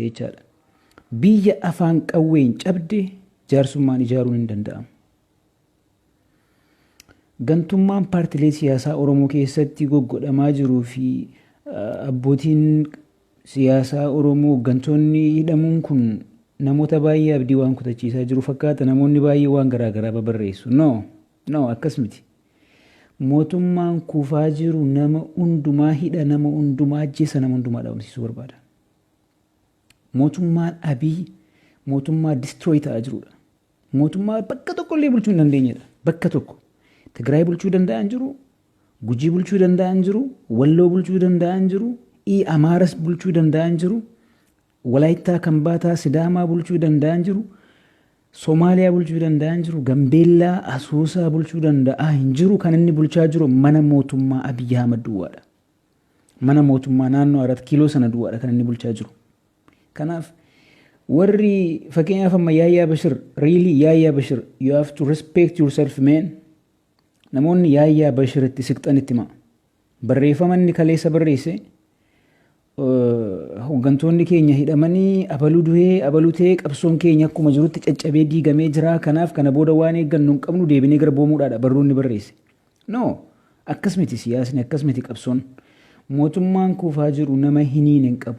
jechaadha. Biyya afaan qawween cabde jaarsummaan ijaaruun hin danda'amu. Gantummaan paartilee siyaasaa Oromoo keessatti goggodhamaa jiruu fi abbootiin siyaasaa Oromoo hooggantoonni hidhamuun kun namoota baay'ee abdii waan kutachiisaa jiru fakkaata. Namoonni baay'ee waan garaa garaa babarreessu. No, no akkas miti. Mootummaan kufaa jiru nama hundumaa hidha, nama hundumaa ajjeessa, nama hundumaa dhabamsiisuu barbaada. Mootummaan Abiy mootummaa destroy ta'aa jirudha. Mootummaa bakka tokko illee bulchuu hin dandeenyedha. Bakka tokko. Tigraay bulchuu danda'an jiru, Gujii bulchuu danda'an jiru, Walloo bulchuu danda'an jiru, ii Amaaras bulchuu danda'an jiru, Walaayittaa Kambaataa Sidaamaa bulchuu danda'an jiru, Somaaliyaa bulchuu danda'an jiru, Gambeellaa Asoosaa bulchuu danda'aa hin jiru. Kan inni bulchaa jiru mana mootummaa Abiy Ahmad duwwaadha. Mana mootummaa naannoo Arat Kiiloo sana duwwaadha kan inni bulchaa jiru. Kanaaf warri fakkeenyaaf amma Yaayyaa Bashir really Yaayyaa Bashir you have to respect yourself man namoonni Yaayyaa Bashir itti siqxan itti himaa. Barreeffama inni kaleessa barreesse hooggantoonni keenya hidhamanii abaluu du'ee abaluu ta'ee qabsoon keenya akkuma jirutti caccabee diigamee jira kanaaf kana booda waan eeggannu hin qabnu deebinee garboomuudhaadha barruun ni barreesse. No! Akkas miti siyaasni, akkas miti qabsoon. Mootummaan kuufaa jiru nama hin hiine hin qabu.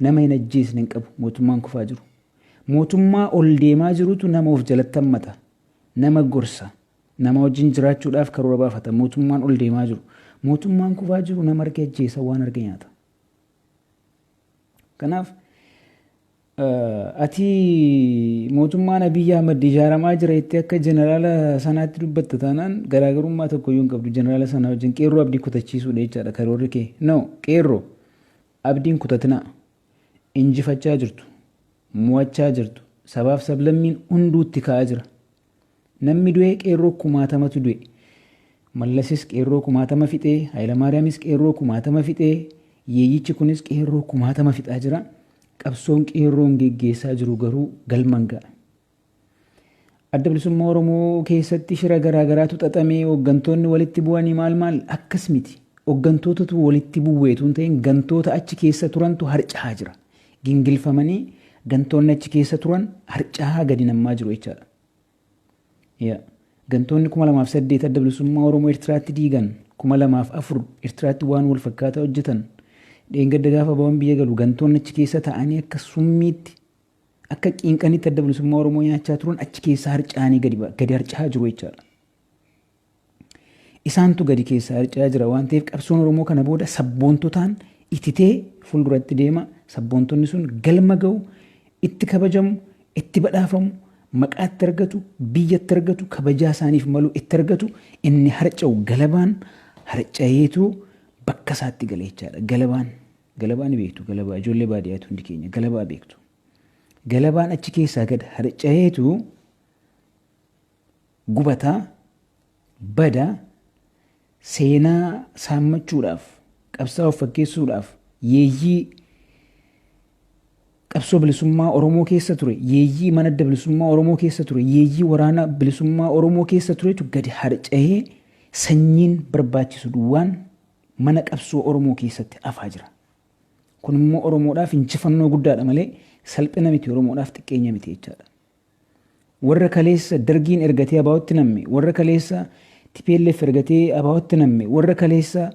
Nama hin ajjeesne hin qabu mootummaan kufaa jiru. Mootummaa ol deemaa jirutu nama of jalatti hammata. Nama gorsa. Nama wajjin jiraachuudhaaf karoora baafata. Mootummaan ol deemaa jiru. Mootummaan kufaa jiru nama arge ajjeesa waan arge nyaata. Kanaaf Ati mootummaan Abiy Ahmad ijaaramaa jira jettee akka jeneraala sanaatti dubbatta taanaan garaagarummaa tokkoyyuu hin qabdu jeneraala sanaa wajjin qeerroo abdii kutachiisuudha jechaadha karoorri kee. No qeerroo abdiin kutatinaa injifachaa jirtu mo'achaa jirtu sabaaf sablammiin hunduutti ka'aa jira Nammi du'e qeerroo kumaatamatu du'e. Mallasis qeerroo kumaatama fixe, Hayilamaariyamis qeerroo kumaatama fixe, yeeyyichi kunis qeerroo kumaatama fixaa jira. Qabsoon qeerroon geggeessaa jiru garuu galma hin ga'a. Adda Bilisummaa Oromoo keessatti shira garaa garaatu xaxamee hooggantoonni walitti bu'anii maal maal akkas miti. Hooggantootatu walitti bu'eetu hin ta'in gantoota achi keessa turantu harca'aa jira. gingilfamanii gantoonni achi keessa turan harcahaa gadi nammaa jiru jechaadha. Yeah. Gantoonni 2008 adda bilisummaa Oromoo Ertiraatti diigan 2004 Ertiraatti waan wal fakkaataa hojjetan dheengadda gaafa bawan biyya galu gantoonni achi keessa taa'anii akka summiitti akka qiinqanitti adda bilisummaa Oromoo nyaachaa turan achi keessa harca'anii gadi ba- gadi harca'aa jiru jechaadha. Isaantu gadi keessaa harca'aa jira waan ta'eef qabsoon Oromoo kana booda sabboontotaan ititee fuulduratti deema. Sabboontonni sun galma ga'u, itti kabajamu, itti badhaafamu, maqaa itti argatu, biyya itti argatu, kabajaa isaaniif malu itti argatu. Inni harca'u galabaan harca'eetu bakka isaatti gala jechaadha. Galabaan galabaa ni beektu galabaa ijoollee baadiyyaatu hundi keenya galabaa beektu. Galabaan achi keessaa gad harca'eetu gubata, bada, seenaa saammachuudhaaf, qabsaa'aa of fakkeessuudhaaf, yeeyyii qabsoo bilisummaa Oromoo keessa ture, yeeyyii mana adda bilisummaa Oromoo keessa ture, yeeyyii waraana bilisummaa Oromoo keessa turetu gadi harca'ee sanyiin barbaachisu duwwaan mana qabsoo Oromoo keessatti afaa jira. Kun immoo Oromoodhaaf injifannoo guddaadha malee salphina miti Oromoodhaaf xiqqeenya miti jechaadha. Warra kaleessa Dargiin ergatee ABOtti namme, warra kaleessa tplf ergatee ABOtti namme, warra kaleessa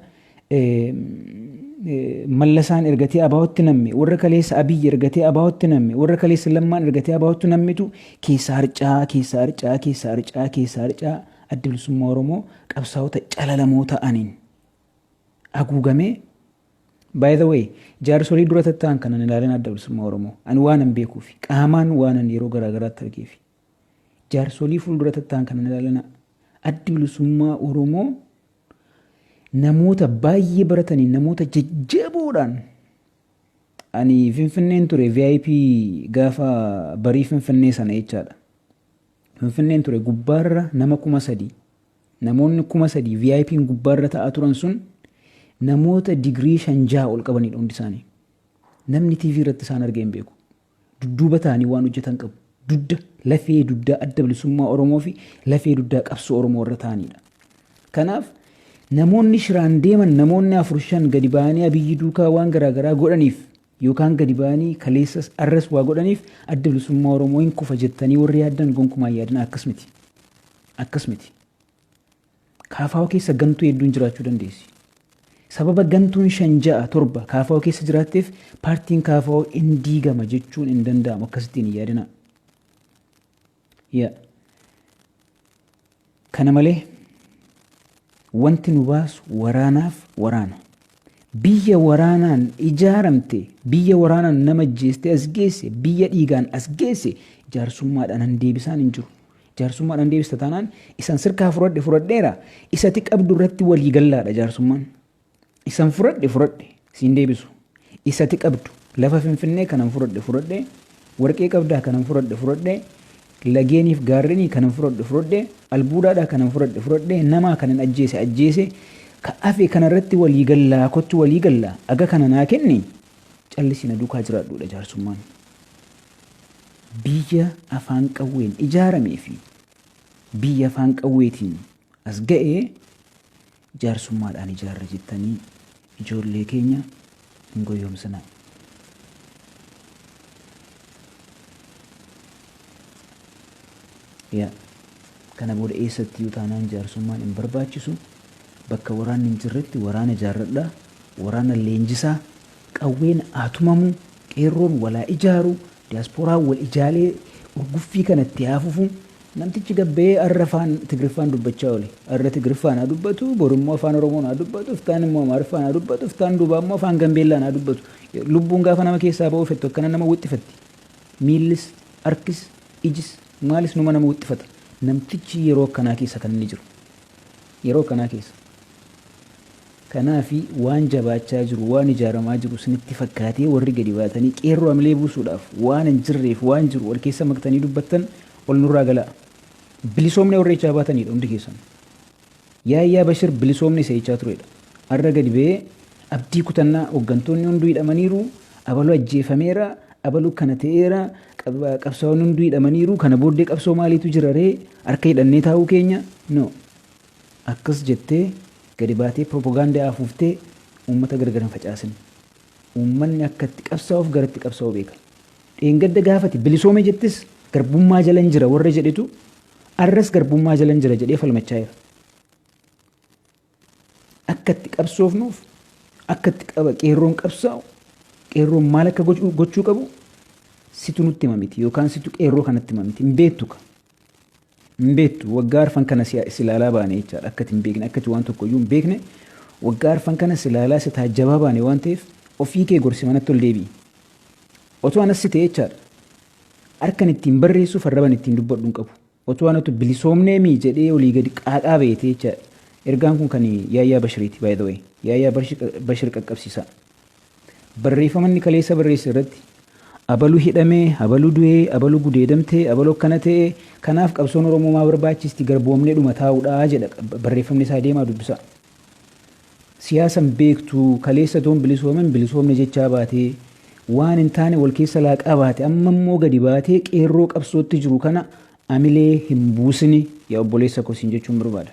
Mallasaan ergatee ABOtti namme, warra kaleessa Abiy ergatee ABOtti namme, warra kaleessa Lammaan ergatee ABOtti nammetu keessaa harca'aa, keessaa harca'aa, keessaa harca'aa, keessaa harca'aa Adda Bilisummaa Oromoo qabsaa'ota calalamoo ta'aniin haguugamee By the way, jaarsolii dura tatta'an kanan ilaalin Adda Bilisummaa Oromoo, ani waanan beekuufi qaamaan waanan yeroo garaa garaatti argeefi. Jaarsolii fuuldura tatta'an kanan ilaalin Addi Bilisummaa Oromoo namoota baay'ee barataniin namoota jajjaboodhaan ani Finfinneen ture VIP gaafa barii Finfinnee sana jechaadha. Finfinneen ture gubbaarra nama kuma sadii. Namoonni kuma sadii VIPn gubbaarra ta'aa turan sun namoota digirii shan jaha ol qabanidha hundi isaanii. Namni TV irratti isaan argee hin beeku. Dudduuba ta'anii waan hojjetan qabu. Dudda lafee duddaa adda bilisummaa Oromoo fi lafee duddaa qabsoo Oromoo irra ta'anidha. Kanaaf namoonni shiraan deeman namoonni afur shan gadi ba'anii abiyyi duukaa waan garaagaraa godhaniif Yookaan gadi ba'anii kaleessas arras waa godhaniif Adda Bilisummaa Oromoo hin kufa jettanii warri yaaddan gonkumaa hin yaadinaa akkas miti. Akkas miti. KFO keessa gantuu hedduun jiraachuu dandeessi. Sababa gantuun shan ja'a torba KFO keessa jiraatteef paartiin KFO hin diigama jechuun hin danda'amu akkasittiin hin yaadinaa. ya kana malee wanti nu baasu waraanaaf waraana biyya waraanaan ijaaramte biyya waraanaan nama ajjeeste as geesse biyya dhiigaan as geesse jaarsummaadhaan hin deebisaan hin jiru jaarsummaadhaan hin deebista taanaan isan sirkaa fudhadhe fudhadheera isati qabdu irratti walii gallaadha jaarsummaan Isan fudhadhe fudhadhe siin deebisu isa ati qabdu lafa finfinnee kanan fudhadhe fudhadhe warqee qabdaa kanan fudhadhe fudhadhe lageeniif gaarrenii kanan fudhadhe fudhadhe albuudaadhaa kanan fudhadhe fudhadhe namaa kanan ajjeese ajjeese ka afe kana irratti walii gallaa kottu walii gallaa aga kana naa kenni callisi na duukaa jiraadhuudha jaarsummaan biyya afaan qawween ijaaramee fi biyya afaan qawweetiin as ga'e jaarsummaadhaan ijaarra jettanii ijoollee keenya hin goyyoomsinaa. Yaa kana booda eessattiyyuu taanaan jaarsummaan hin barbaachisu. Bakka waraanni hin jirretti waraana ijaarradhaa, waraana leenjisaa, qawween haa tumamu, qeerroon wal haa ijaaru, Diyaaspooraan wal ijaalee urguffii kana itti haa fufu. Namtichi gad ba'ee arra afaan Tigriffaan dubbachaa oole. Arra Tigriffaan haa dubbatu, bor immoo afaan Oromoon haa dubbatu, iftaan immoo Amaariffaan haa dubbatu, iftaan duubaa immoo afaan Gambeellaan haa dubbatu. Lubbuun gaafa nama keessaa ba'uu fettu akkana nama wixxifatti. Miillis, harkis, ijis, maalis numa nama wixxifata. Namtichi yeroo akkanaa keessa kan inni jiru. Yeroo akkanaa keessa. Kanaaf waan jabaachaa jiru, waan ijaaramaa jiru isinitti fakkaatee warri gadi baatanii qeerroo hamilee buusuudhaaf waan hin jirreef waan jiru wal keessa maktanii dubbattan ol nurraa galaa. Bilisoomnee warra jechaa baataniidha hundi keessanuu. Yaayyaa Bashir bilisoomne isa jechaa tureedha. Har'a gadi ba'ee abdii kutannaa hoggantoonni hunduu hidhamaniiru, abalu ajjeefameera, abalu kana ta'eera, qabsaa'onni hunduu hidhamaniiru, kana booddee qabsoo maaliitu jiraree harka hidhannee taa'uu keenya? No. Akkas jettee gadi baatee piropogaandaa afuuftee uummata gargar hin facaasin. Uummanni akka itti qabsaa'uuf gara itti qabsaa'u beeka. Dheengadda gaafa ati bilisoome jettes garbummaa jalan jira warra jedhetu arras garbummaa jalan jira jedhee falmachaa jira. Akka itti qabsoofnuuf akka itti qaba qeerroon qabsaa'u qeerroon maal akka gochuu qabu situ nutti hima miti yookaan situ qeerroo kanatti hima miti hin beektu ka. Hin beektu. Waggaa arfan kana si si ilaalaa baane jechaadha. Akka ati hin beekne, akka ati waan tokko iyyuu hin beekne waggaa arfan kana si ilaalaa si taajjabaa baane waan ta'eef ofii kee gorsi manatti ol deebi'i. Otoo anas si ta'e jechaadha. Harkan ittiin barreessuuf arraban ittiin dubbadhu hin qabu. Otoo anatu bilisoomnee mii jedhee olii gadi qaaqaa beete jechaadha. Ergaan kun kan Yaayyaa Bashiriiti by the way. Yaayyaa Bashir qaqqabsiisaa. Barreeffama inni kaleessa barreesse irratti abalu hidhame, abalu du'e, abalu gudeedamte, abalu akkana ta'e, kanaaf qabsoon Oromoo maa barbaachisti garboomneedhuma taa'uudha jedha barreeffamni isaa deemaa dubbisaa. Siyaasa hin beektu, kaleessa otoo hin bilisoomin hin bilisoomne jechaa baate, waan hin taane wal keessa laaqaa baate, amma immoo gadi baatee qeerroo qabsootti jiru kana amilee hin buusini yaa obboleessa koo siin jechuun barbaada.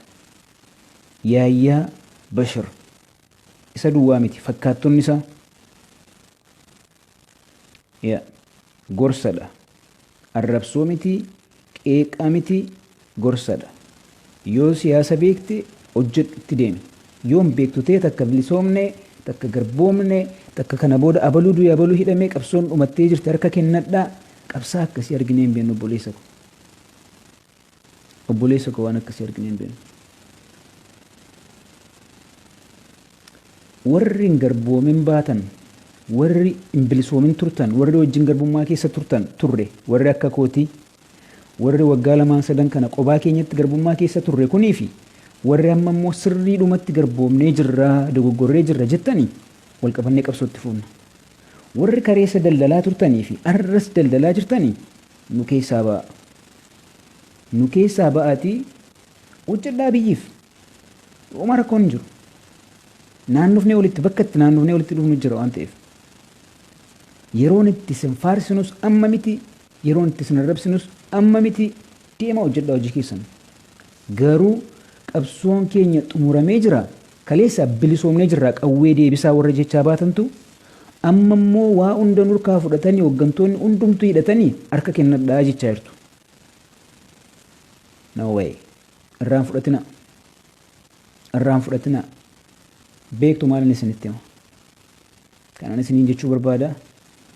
Yaayyaa Bashir. Isa duwwaa miti, fakkaattonni isaa yeah gorsa dha. Arrabsoo miti, qeeqa miti, gorsa dha. Yoo siyaasa beekte hojjedhu itti deemi. Yoo hin beektu ta'e takka bilisoomne, takka garboomne, takka kana booda abaluu du'e abaluu hidhame qabsoon dhumattee jirti harka kennadhaa, qabsaa'aa akkasii arginee hin beeknu obboleessa ko. Obboleessa koo waan akkasii arginee hin beeknu. Warri hin garboomin baatan, warri hin bilisoomin turtan, warri wajjin garbummaa keessa turtan turre, warri akka kootii, warri waggaa lamaan sadan kana qobaa keenyatti garbummaa keessa turre kunii fi warri amma immoo sirriidhumatti garboomnee jirra, dogoggorree jirra jettanii wal qabannee qabsoo itti fuunna. Warri kareessa daldalaa turtanii fi arras daldalaa jirtanii Nu keessaa ba'aa. Nu keessaa ba'aatii hojjedhaa biyyiif. Homaa rakkoon hin jiru. Naannofnee walitti bakka itti naannofnee walitti dhufnu jira waan ta'eef. Yeroon itti isin faarsinus amma miti, yeroon itti isin arrabsinus amma miti, deemaa hojjedhaa hojii keessan. Garuu qabsoon keenya xumuramee jira, kaleessa bilisoomnee jirraa qawwee deebisaa warra jechaa baatantu Amma immoo waa hunda nurkaa fudhatani hoggantoonni hundumtu hidhatani harka kennadhaa jechaa jirtu. No way. Irraan fudhatina. Irraan fudhatina. Beektu maalin isinitti hima. Kanan isiniin jechuu barbaada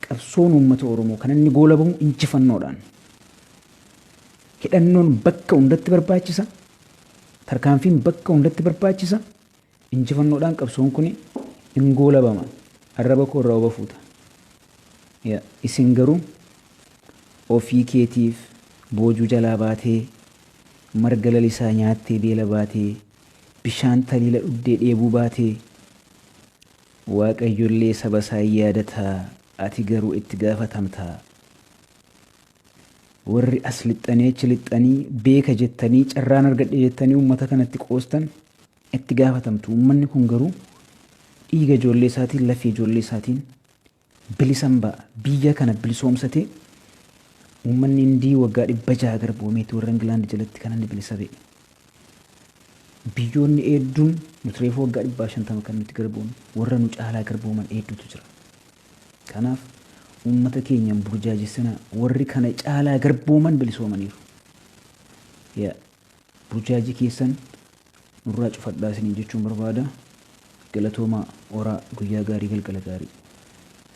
qabsoon uummata Oromoo kan inni goolabamu injifannoodhaan. Hidhannoon bakka hundatti barbaachisa. Tarkaanfiin bakka hundatti barbaachisa. Injifannoodhaan qabsoon kuni in goolabama arraba koo irraa oba fuuta ya isin garuu ofii keetiif boojuu jalaa baatee marga lalisaa nyaattee beela baatee bishaan taliila dhugdee dheebuu baatee waaqayyo illee saba isaa in yaadata ati garuu itti gaafatamta warri as lixxanii achi lixxanii beeka jettanii carraan argadhe jettanii uummata kanatti qoostan itti gaafatamtu uummanni kun garuu dhiiga ijoollee isaatiin lafee ijoollee isaatiin bilisan ba'a biyya kana bilisoomsatee uummanni indii waggaa dhibba jaha garboomeeti warra ingilaandi jalatti kan inni bilisa ba'e biyyoonni eedduun nuti reefu waggaa dhibbaa shantama kan nuti garboome warra nu caalaa garbooman eedduutu jira kanaaf uummata keenyan burjaajessina warri kana caalaa garbooman bilisoomaniiru yeah. Burjaajii keessan nurraa cufadhaa isiniin jechuun barbaada. Galatoomaa, horaa, guyyaa gaarii, galgala gaarii.